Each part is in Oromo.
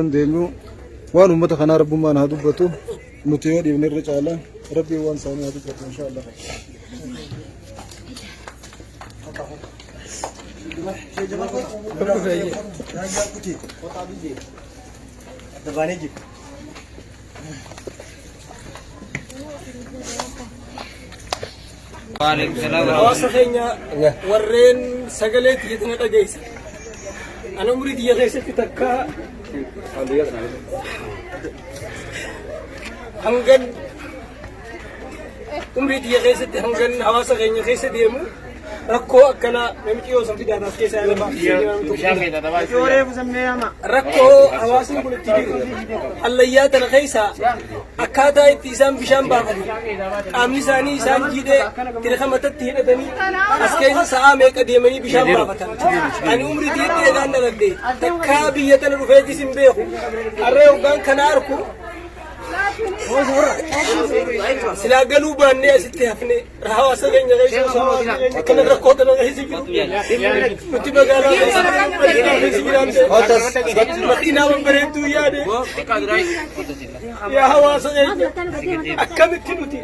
dandeenyu waan ummata kanaa rabbummaan haa dubbatu nuti yoo dhiifne irra caala rabbiin waan isaanii haa dubbatu insha Allah. Dabbaanee jiru. Hawaasa keenya warreen sagalee tiyya tana dhageessa. Ani umurii tiyya keessatti takka hangan Umrii tiyya keessatti hangan hawaasa keenya keessa deemu rakkoo akkanaa namichi yoo san fidaa taas keessaa lafa rakkoo hawaasni kun itti jiru hallayyaa tana keessa akkaataa itti isaan bishaan baafatu qaamni isaanii isaan jiidhee tirka matatti hidhatanii as keessa sa'aa meeqa deemanii bishaan baafatan ani umrii tiyyatti eegaan dhaladhe takkaa biyya tana dhufeetis hin beeku harree hoggaan kana arku silaa galuu baannee asitti hafne hawaasa keenya keessa akkana rakkoo kana keessa jiru nuti magaalaa keessa jiraanne madiinaa babbareedduu yaade yaa hawaasa keenya akkamitti nuti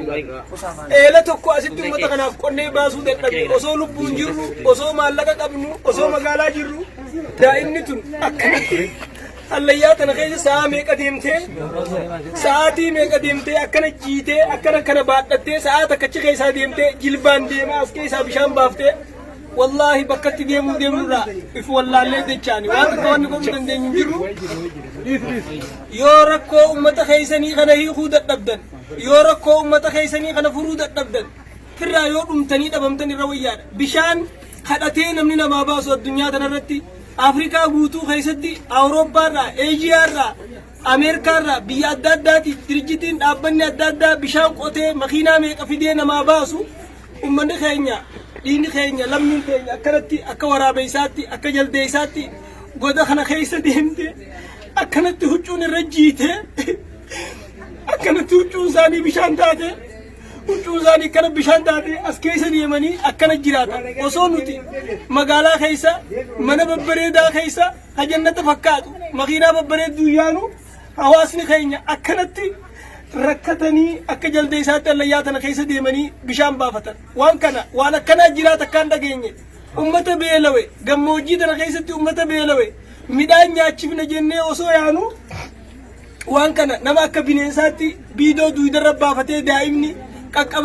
eela tokko asitti uummata kanaaf qonnee baasuu dadhabne osoo lubbuun jirru osoo maallaqa qabnu osoo magaalaa jirru daa'imni tun akkanatti Hallayyaa kana keessa sa'a meeqa deemtee sa'aatii meeqa deemtee akkana jiitee akkana kana baadhattee sa'a takkachi keessaa deemtee jilbaan deemaa as keessaa bishaan baaftee wallaahi bakkatti deemuu deemurraa if wallaallee jechaani waan akka wanni godhuu dandeenyu hin jirru yoo rakkoo ummata keessanii kana hiikuu dadhabdan yoo rakkoo ummata keessanii kana furuu dadhabdan firraa yoo dhumtanii dhabamtan irra wayyaadha bishaan kadhatee namni namaa baasu addunyaa tanarratti Afrikaa guutuu keessatti Awurooppaarraa, Eeshiyaarraa, Ameerikaarraa biyya adda addaatii dirijjitiin dhaabbanni adda addaa bishaan qotee makiinaa meeqa fidee namaa baasu ummanni keenya dhiini keenya lammiin keenya akkanatti akka waraabeessaatti akka jaldeessaatti goda kana keessa deemte akkanatti huccuun irra jiite akkanatti huccuun isaanii bishaan taate. Huccuun isaanii kana bishaan taatee as keessa deemanii akkana jiraatan. Osoo nuti magaalaa keessa mana babbareedaa keessa hajannata fakkaatu makiinaa babbareedduu yaanu hawaasni keenya akkanatti rakkatanii akka jalda isaatti allayyaa tana keessa deemanii bishaan baafatan. Waan kana waan akkanaa jiraata akkaan dhageenye. Ummata beelawe gammoojjii tana keessatti ummata beelawe midhaan nyaachifna jennee osoo yaanu waan kana nama akka bineensaatti biidoo duudarra baafatee daa'imni qaqqaba